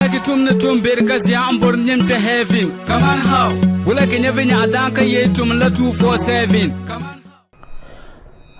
Wulagi tum ni tum beri ka zia n bori nim kpɛ heaven. Kaman how? Wulagi nyɛ vi nyaɣa daan ka yee tum la 247. Kaman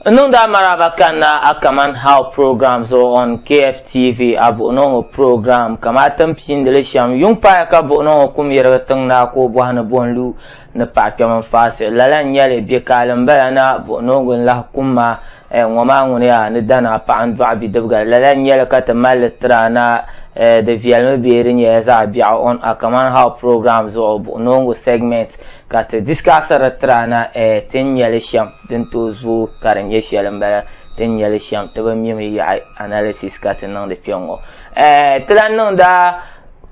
N niŋdi a maraba kanna a Kaman How program zuɣu on KFTV, a buɣinooŋɔ program. Ka maa tin piindili shɛm, yuŋ paaya ka buɣinooŋɔ kum yirigi tiŋ naa ka o bɔhi ni bo n-lu. Ni paɣa kpɛm n faɣisi, lala n nyɛli bɛ kaali m bala na, buɣi noongu n lahi kum ma, eh, ŋɔ maa ŋuni yaa ni da naa paɣa n dɔɣi bidibiga, lala n nyɛli ka ti mali li tira na, eh, di viɛlimi bee di nyɛla zaɣi biɛɣu on a kaman how program zuɣu buɣi noongu segment ka ti discuss di tira na, eh, ti ni nyɛli shem din tooi zooi ka di nyɛ sheli m bala ti ni nyɛli shem ti bi mimi yaɣi analysis ka ti niŋdi kpe ŋɔ, eh, ti lahi niŋda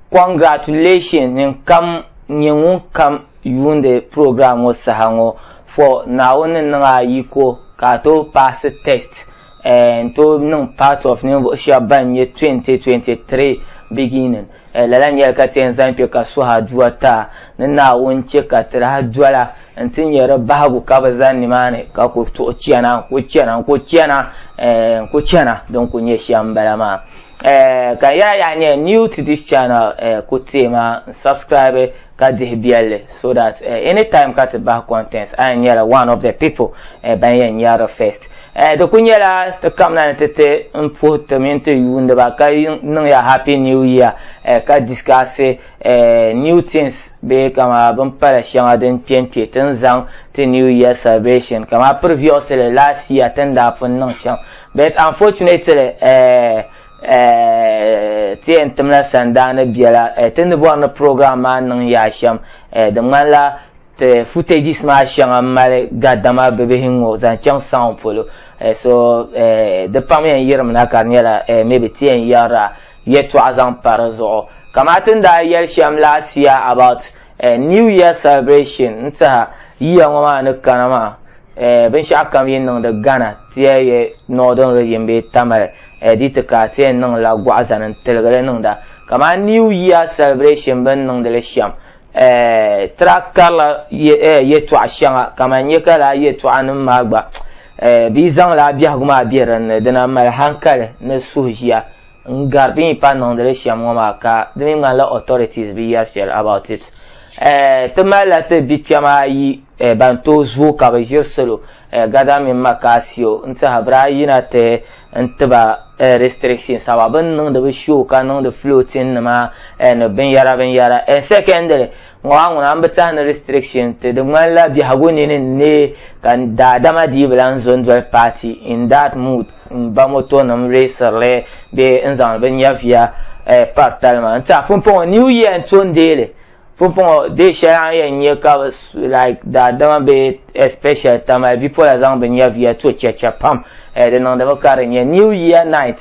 congratulation ninkam. N-nyɛ ŋun kam yuundi program ŋɔ saha ŋɔ for Naawuni ni niŋ a yiko ka a tooi paasi test eh, n-tooi niŋ part of ninvuɣu shɛba ban nyɛ 2023 beginning eh, lala nyɛla ka ti yɛn zaŋ kpe ka suhi aduwa ti a ni Naawuni chɛ ka ti daa dola n-ti nyɛ di bahigu ka bi zani nimaani ka ku tuɣi chana n-ku chana n-ku chana eh, n-ku chana din ku nyɛ shɛm m-bala maa. Eh, ka ya ya nye new to this channel eh, ku teei ma n subscribe ka dihi biɛlli so that eh, anytime ka ti bahi contents a nyɛla one of the people eh, ban yɛn nyɛri first eh, di ku nyɛla ti kamna ni ti ti n puhi ti mini ti yuundiba ka niŋ ya happy new year eh, ka discuss eh, new things bee kama bin pala shɛŋa din kpe n kpe ti ni zaŋ ti new year celebration kama previously last year ti ni daa pun niŋ shɛm But unfortunately, eh, eh, ti yɛn timla sandaani biɛla eh, ti ni bɔri ni program maa niŋ yaa shɛm eh, di ŋmanila ti footages maa shɛŋa mali ga dama bibihi ŋɔ zaŋ chaŋ sound polo eh, so eh, di pam yɛn yirimina ka di nyɛla eh, maybe ti yɛn yɛrila yɛtɔɣa zaŋ pa di zuɣu kama ti ni daa yɛli shɛm last year about Eh, New Year celebration n tiɛha yiya ŋɔ maa ni kana maa eh, binshɛɣu kam yi niŋdi Ghana tiɛ ye Northern region bee Tamale eh, di ti ka tiɛ niŋ la gɔɣu zani n tiligili niŋda kaman New Year celebration bin niŋdili shɛm eh, tira karila ye, eh, yɛtɔɣa shɛŋa kaman nyɛ ka laa yɛtɔɣa nim maa gba eh, bɛ yi zaŋ laa biɛhigu maa be dinni dina mali hankali ni suhuʒiya N gari bɛ ni pahi niŋdili shɛm ŋɔ maa ka di mi ŋmanila authorities bi yɛri shɛli about it. Eh, ti malila ti bikpɛm ayi eh, ban tooi zooi ka bi ʒiri salo eh, gada mini Makasio n-tihi biri ayi na ti n ti ba eh, restrictions awa bɛ ni niŋdi bɛ show ka niŋdi floating nima eh, ni binyɛra binyɛra. Eh, secondly, ŋɔ a ŋuna m-bi tahi ni restriction ti di ŋmanila biɛhigu nini n-neei ka daadama dii bi lan zo n-doli paati in that mood m-ba motonima reesiri li bee n-zaŋdi bɛ nyɛviya pari tali maa n-tiɛha pumpɔŋɔ new year n-to n-deei li pumpɔŋɔ day shɛli a ni yɛn nya ka bɛ like daadama bee especially tamali bipola zaŋ bɛ nyɛviya to chɛcha pam di niŋdimi ka di nyɛ new year night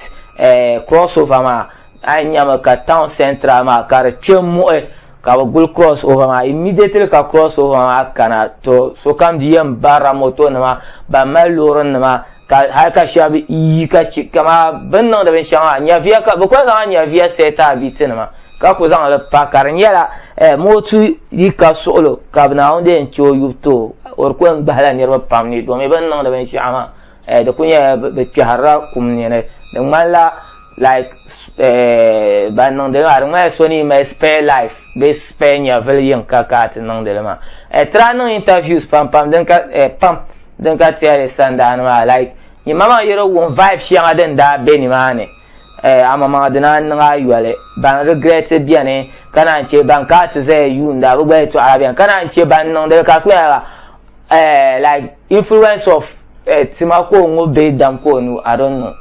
crossover maa a yɛn nyami ka town central maa ka di kpe m-muɣi Ka bɛ guli cross over maa immediately ka cross over maa kana to sokam di yɛn barila moto nima ban mali loori nima ka hali ka shɛba yi ka chɛ kama bɛ ni niŋdi binshɛŋa maa nyɛviya ka bɛ kuli zaŋla nyɛviya sɛɛti abiti nima ka ku zaŋ li pa ka di nyɛla eh, mootu yi ka suɣilo ka Naawuni di yɛn chɛ o yubu too o di ku yɛn gbahila niriba pam ni domin bɛ ni niŋdi binshɛɣu maa eh, di ku nyɛla bi kpɛhirila kum ni di ŋmanila like eh, ban niŋdili maa di ŋmanila so ni mali spare life bee spare nyɛvili yiŋ ka ka ti niŋdili maa eh, tira niŋ interviews pam pam din ka pam din ka tiyali sandaani maa like nyima maa yɛro wuŋ vibe shɛŋa din daa bɛ nimaani Eh, amamaŋa dina n niŋ ayɔli ban regret biɛni ka naan chɛ ban ka ti zaya yuunda bi gba yɛtɔɣa biɛni ka naan chɛ ban niŋdi ka kuyɛra eh, like influence of eh, tima ko ŋo bɛ dam ko nu i don't know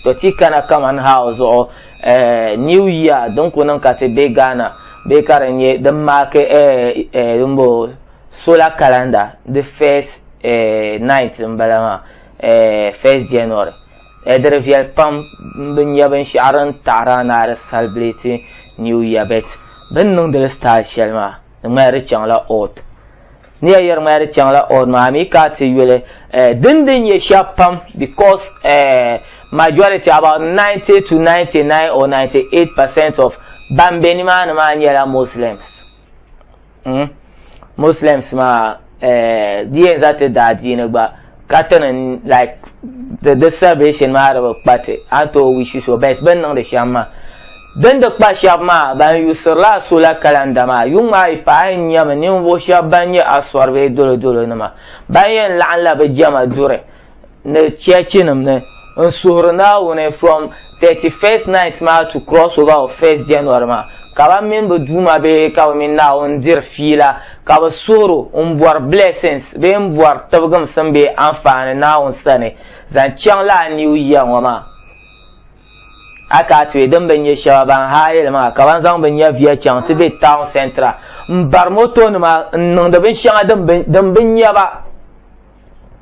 to ti kana kaman how zuɣu eh, new year din ku niŋ ka ti bɛ ghana bɛ ka di nyɛ din maaki eh, eh, din bo solar calendar the first eh, night n bala maa eh, first january eh, di di viɛli pam n bi nyɛ binshaɣu din taɣara ni a di celebrate new year bet bin niŋdili style shɛli maa di ŋmahiri chaŋla odd ni ya yɛri ŋmahiri chaŋla odd maa mi ka ti yuli eh, din din nyɛ shɛb pam because eh, majority about 90 to 99 or 98 percent of ban be nimaani maa nyɛla muslims mm? muslims maa eh, di yɛn za ti daadiini gba ka ti ni like di di salvation maa di bi kpa ti a ni tooi wishi so bet bin niŋdi shɛm maa din di kpa shɛba maa ban yuusirila a sola kalanda maa yuŋ maa yi paai n nyɛmi ninvuɣu shɛba ban nyɛ asɔri bee dolodolo nima ban yɛn laɣinla bi jɛma duri ni chɛchinim ni n-suhiri Naawuni from 31st night maa to cross over of 1st January maa, ka ban mini bɛ Duuma bihi ka bɛ mini Naawuni diri fiila, ka bɛ suhir o m-bɔri blessings bee m-bɔri tibigimsim bee anfaani Naawuni sani zaŋ chaŋ lala New Year ŋɔ maa. A ka a tuhi din bi nya shɛba ban haa yɛli maa ka ban zaŋ bɛ nyaviya chaŋ ti be town centre m-bari motonima n-niŋdi binshɛŋa din bi nya ba.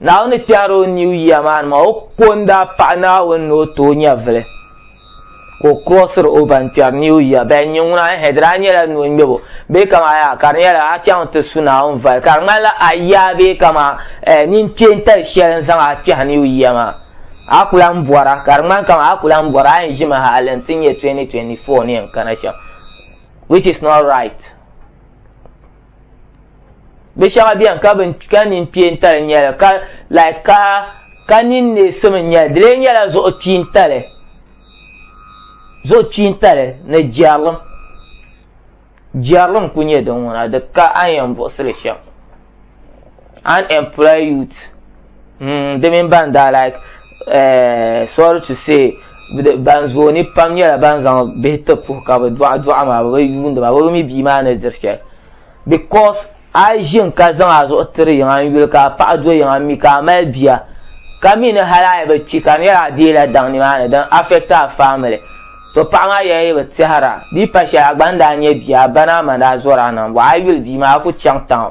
Naawuni kpɛhiri o New Year maa ni maa, o ko n daa paɣi Naawuni ni o ti o nyɛvili ka o crossiri o ban kpɛri New Year bɛn nyɛ ŋuna, ɛhɛ di daa nyɛla ni o ŋmɛbo bee kaman yaa ka di nyɛla a chaŋ ti su Naawuni voli ka di ŋmanila a yaa bee kaman ɛɛ nini kpe n tali shɛli n zaŋ a kpɛhi New Year maa a ku lan bɔra ka di ŋmani kaman a ku lan bɔri a yɛn ʒimi hali n ti nyɛ 2024 ni yɛn kana shɛm which is not right. bi shɛŋa bɛni ka bin ka nin piɛntali nyɛli ka like ka ka nin neesim n nyɛli di lee nyɛla zuɣu kpiintali zuɣu kpiintali ni jɛrilim jɛrilim ku nyɛ din ŋuna di ka a ni yɛn buɣusili shɛm unemployed youth mm, di mini ban daa like uh, sorry to say ban zooi ni pam nyɛla ban zaŋ bihi ti puhi ka bi dɔɣa dɔɣa maa bi bi yuundi maa bi bi mi bia maa ni diri shɛli because a yi ʒin ka zaŋ a zuɣu tiri yiŋa n yuli ka a paɣa do yiŋa mi ka a mali bia ka mi ni hali a yi bi kpi ka di nyɛla a deela daŋ ni maa ni din affect a family to paɣa maa yɛla yi bi tɛhira bia pa shɛli a gba ni daa nyɛ bia a ba ni a ma daa zɔri a niŋ bɔ a yi yuli bia maa a ku chaŋ taŋ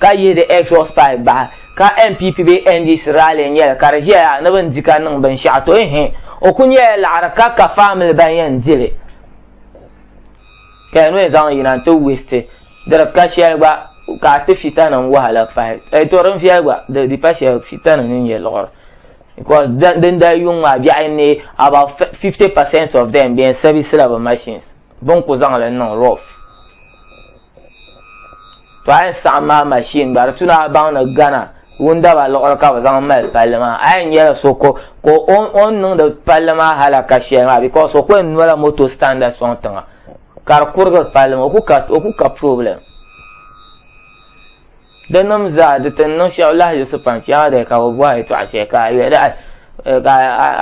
ka yihi di exhaust pipe bahi ka NPP bee NDC rally n-nyɛ li ka di ʒiɛya ni bɛ ni di ka niŋ binshɛɣu to ehe o kuli nyɛla laɣiri ka ka family ban yɛn di li ka di mi zaŋ yina nti waste di di ka shɛli gba ka a ti fitanim wahala pahi eeh to din viɛli gba di di pa shɛli fitanim ni nyɛ liɣiri because din dali yuŋ maa biɛɣu n-neei about 50% of them bɛ yɛn service la bɛ machines. Bɛ ni ku zaŋ li niŋ rough. To a yi saɣim maa machine gba di tu ni a baŋ ni Ghana wundaba liɣiri ka bɛ zaŋ mali palli maa a yɛn nyɛla so ka o ni niŋdi palli maa halaka shɛli maa because o ku yɛn nola moto standard sɔŋ tiŋa ka di kurigiri palli maa o ku ka problem. Di nim zaa di tin niŋ shɛb lahiyiɣisi pam shɛŋa di ka bi bɔhi yɛtɔɣa shɛli ka a yɛli a eh, ka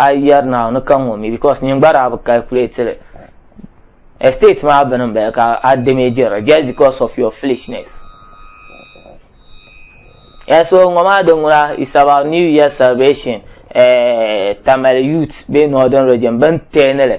a yɛri na ni ka ŋɔ mi because nyin gba daa bi calculate li estate maa bini n bala ka a damage li just because of your foolishness and so ŋɔ maa di ŋuna is about new year celebration eh, tamale youth bee northern region bin tɛɛni li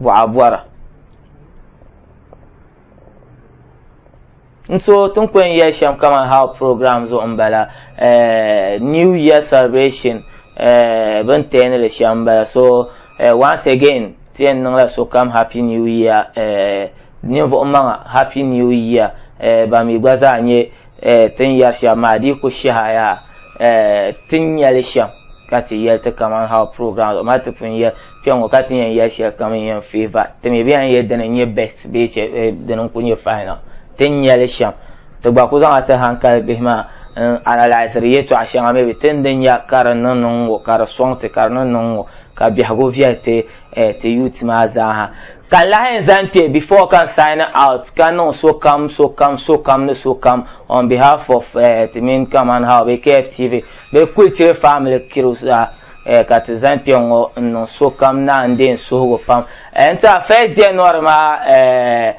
buɣa bɔra n so tin kɔn yɛ shɛm kamani how program zuɣu n bala eh, new year celebration eh, bin tɛni li shɛm bala so eh, once again tɛn niŋla sokam happy new year ninvuɣu maŋa happy new year ba mi gba zaa nyɛ tin yɛri shɛm maa di ku shɛhaya tin nyɛli shɛm ka ti yɛli ti kamani how program ma ti pun yɛli Kpɛŋɔ ka ti yɛn yɛli shɛli kam n-yɛn favour ti mi bee a ni yɛli dini n-nyɛ best bee eh, dini n-kuli nyɛ final ti ni nya li shɛm ti gba ku zaŋla ti hankali bihi maa n analysiri yɛtɔɣa shɛŋa maybe ti ni di nya ka di niŋ niŋ ŋɔ ka di sɔŋ ti ka di niŋ niŋ ŋɔ ka biɛhigu viɛli ti eh, ti youth maa zaaha ka lahi n zaŋ kpɛ before ka n sign out ka niŋ sokam sokam sokam ni sokam on behalf of eh, ti mini kamani how be KFTV be Kulchiri family kiriw zaa Eh, ka ti zaŋ kpɛ ŋɔ n niŋ sokam naan dee n suhigu pam eh, n tiɛha first january maa eh,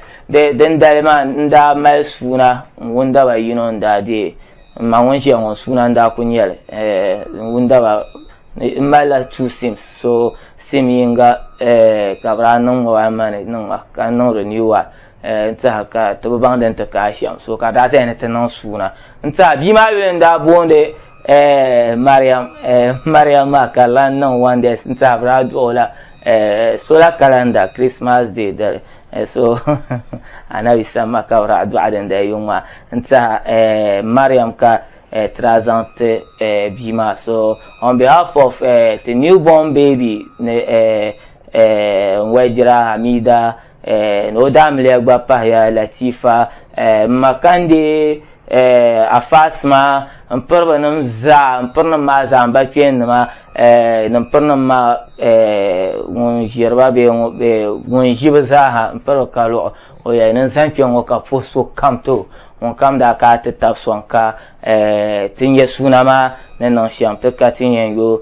din dali maa n daa mali suuna n wundaba yino n daa dee n ma ŋun ʒiya ŋɔ suuna n daa ku nyɛli n wundaba n malila two sims so sim yinga ka bi daa niŋ ŋɔ maa mani niŋ ma ka n niŋ renew one n tiɛha ka ti bi baŋ din ti kaai shɛm so ka daa zaya ni ti niŋ suuna n tiɛha bia maa yuli n daa boondi Eh, Mariam, eh, Mariam maa ka lan niŋ one day n sahabira aduɣu la eh, solar calendar Christmas day dali eh, so anabi sam ma ka bira aduɣa din dali yuŋ maa n tiɛha eh, Mariam ka eh, tira zaŋ ti eh, bia maa so on behalf of eh, the newborn baby ni eh, eh, n wɛjira Hamida Eh, ni o daamiliya gba pahiya Latifa eh, m ma ka n di eh, afaasima n piri bi nim zaa n piri nim maa zaa n ba kpeen nima eh, ni n piri nim maa eh, ŋun ʒiriba bee ŋu- bee ŋun ʒi bi zaaha n piri bi ka luɣi o yɛli ni n zaŋ kpɛ ŋɔ ka puhi so kam to ŋun kam daa ka a ti tab sɔŋ ka eh, ti nyɛ suuna maa ni niŋ shɛm ti ka ti yɛn yo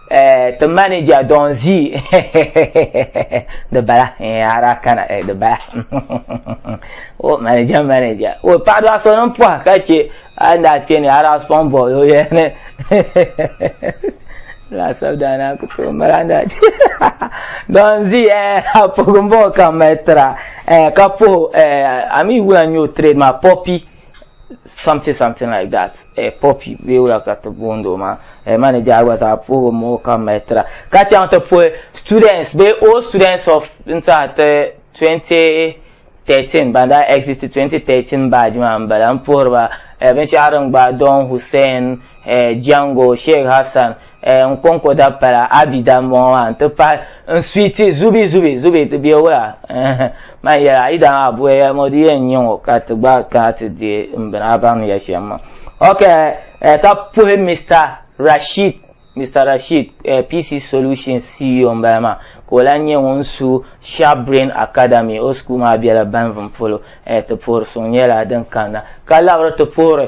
eh, ti manager don zi di bala eh, ara kana eh, di bala o manager manager o paɣa do a so nim pɔha ka chɛ a ni a kpɛ ni ara spɔn bɔ o yɛni laasabu daana ku tooi mali a ni a don zi eh, a puhi n bɔ ka mali tira eh, ka puhi eh, a mi wula n nyɛ o trade maa pɔpi something something like that eh, poppy bee wula ka ti booni o maa eh, manager gba zaa puhigu ma o ka mali tira ka chaŋ ti puhi students bee all students of n tiɛha ti 2013 ban daa exit 2013 badge maa n bala n puhiri ba eh, binshɛɣu din gba don hussein eh, jango sheikh hassan eh, n kɔŋko da pala a bi da mɔŋɔ maa n ti pahi n suiti zubi zubi zubi ti bɛ wula eh, man yɛla yi daa maa buya yɛli ŋɔ di yɛn nyɛ ŋɔ ka ti gba kana ti di n bini a baŋ yɛ shɛm ma ok eh, ka puhi mr rashid mr rashid eh, pc solution ceo n bala maa ka o lan nyɛ ŋun su sharp brain academy o sukuu maa bɛla banvin polo eh, ti puhiri suŋ nyɛla din kanna ka labiri ti puhiri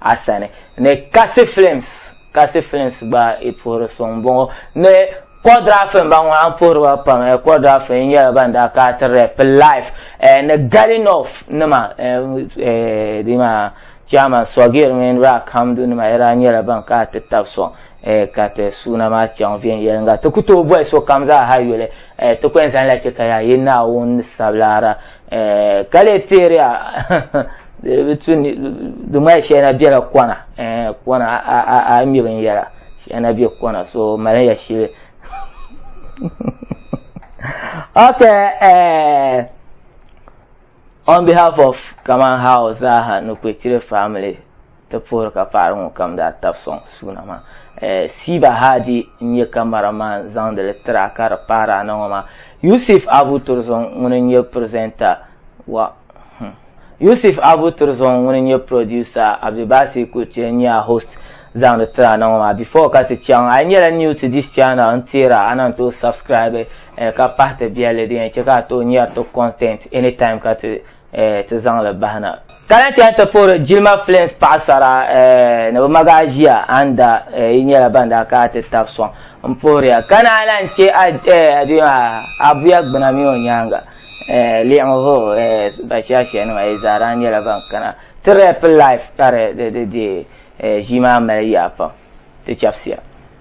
a sani ni Kasi Films Kasi Films gba i puhiri so m-bɔŋɔ ni Kɔdrafi m-ba ŋɔ a ni puhiri ba pam eh, Kɔdrafi n nyɛla ban daa ka ti rap live eh, ni Gali North nima eh, eh, di maa Chairman Sɔgir mini Rack Hamdu nima ya daa nyɛla ban ka ti tab sɔŋ eh, ka ti suuna maa chaŋ viɛnyɛliŋga ti ku tooi bɔhi sokam zaa ha yuli eh, ti ku yɛn zaŋla chɛ ka yaa yi Naawuni ni sabilara eh, ka lee teeri a bi tu di mali shɛli na biɛla kɔna eh, kɔna a mi binyɛra shɛli na bɛ kɔna so mali ya shili okay eh, on behalf of Kaman House, Zaha, Nukwechire family, Ti puhiri ka paɣiri ŋɔ kam daa tabi sɔŋ suuna maa. Siiba Haadi n-nyɛ kamara man zaŋdi li tiri a ka di pahiri ana ŋɔ maa. Yusuf Abu Turzɔŋ ŋuni n-nyɛ pirizɛnta wa hmm. Yusuf Abu Turzɔŋ ŋuni n-nyɛ pirodusa, Abdulbasi Kurtie n-nyɛ a host zaŋdi tiri ana ŋɔ maa. Before ka ti chaŋ, a yi nyɛla new to this channel n-teera a na n-tooi subscribe ka pahi ti biɛlli din yɛn chɛ ka a tooi nyari ti content anytime ka ti eh, ti zaŋ li bahi na. Ka lahi chani ti puhiri jilima films paɣasara eh, ni bi magi a ʒiya a ni da eh, yi nyɛla ban daa ka a ti tabi sɔŋ n puhiri ya ka naan lahi chɛ a eh, a duyima a buya gbuna mini o nyaanga eh, liɣiŋ hoo eh, ba shaashia nima yi zaa daa nyɛla ban kana ti rap life ka di di di di eh, ʒii maa mali yaa pam ti chɛbisiya.